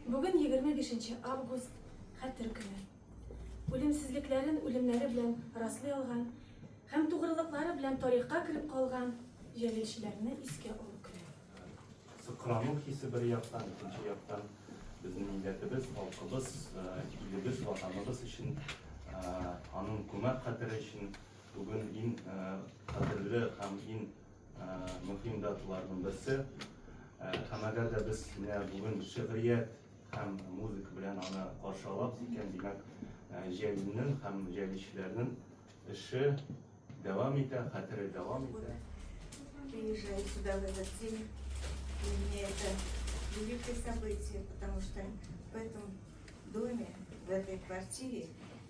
Бүген егерме бишенче август, Хәтер көне. Үлемсезлекләрен үлемнәре белән раслый алган һәм тугрылыклары белән тарихка кереп калган җәлилчеләрне искә алу көне. Сокрану хисе бер яктан, икенче яктан безнең милләтебез, халкыбыз, э, илебез, ватаныбыз өчен, э, аның күмәк хәтере өчен бүген ин э, кадерле һәм ин Мөһим даталарның берсе һәм әгәр дә без менә бүген шигърият һәм музыка белән аны каршы алабыз икән, димәк, җәлилнең һәм җәлилчеләрнең эше дәвам итә, хәтере дәвам итә. Приезжаю сюда в этот день, и мне это великое событие, потому что в этом доме, в этой квартире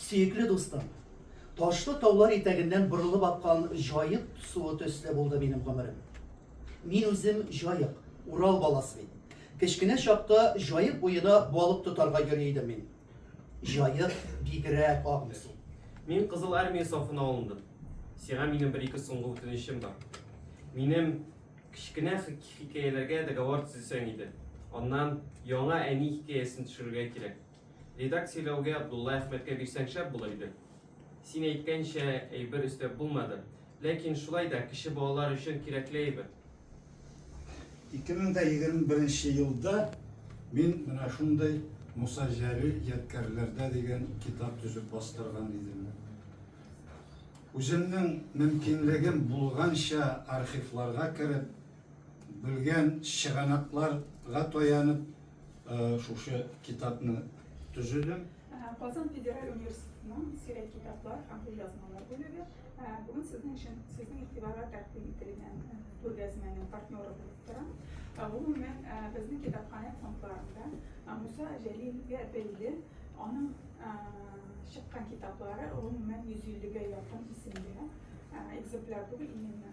Сөекле дустым! Ташлы таулар итәгеннән борылып аккан җаек суы төсле булды минем гомерем. Мин үзем җаек, Урал баласы бит. Кечкенә чакта җаек буена балык тотарга йөри идем мин. Җаек бигрәк агымлы су. Мин Кызыл Армия сафына алындым. Сиңа минем бер-ике соңгы үтенечем бар. Минем кечкенә хикәяләргә договор төзесәң иде. Аннан яңа әни хикәясен төшерергә кирәк. Редак сөйләүгә Абдулла Әхмәткә бирсәң шәп булыр иде. Син әйткәнчә әйбер өстәп булмады. Ләкин шулай да кече балалар өчен кирәкле әйбер. 2021 нче елда мин менә шундый Муса Җәлил ядкәрләрдә дигән китап төзеп бастырган идем. Үземнең мөмкинлегем булганча архивларга кереп, белгән чыганакларга таянып, Э, шушы китапны төзедем. Э, Казан федераль университетының сирәк китаплар һәм кулъязмалар бүлеге э, бүген сезнең өчен сезнең игътибарга тәкъдим ителгән күргәзмәнең партнеры булып тора. Гомумән, безнең китапханә фондларында Муса Җәлилгә бәйле аның чыккан китаплары гомумән 150 гә якын исемле экземпляр түгел, именно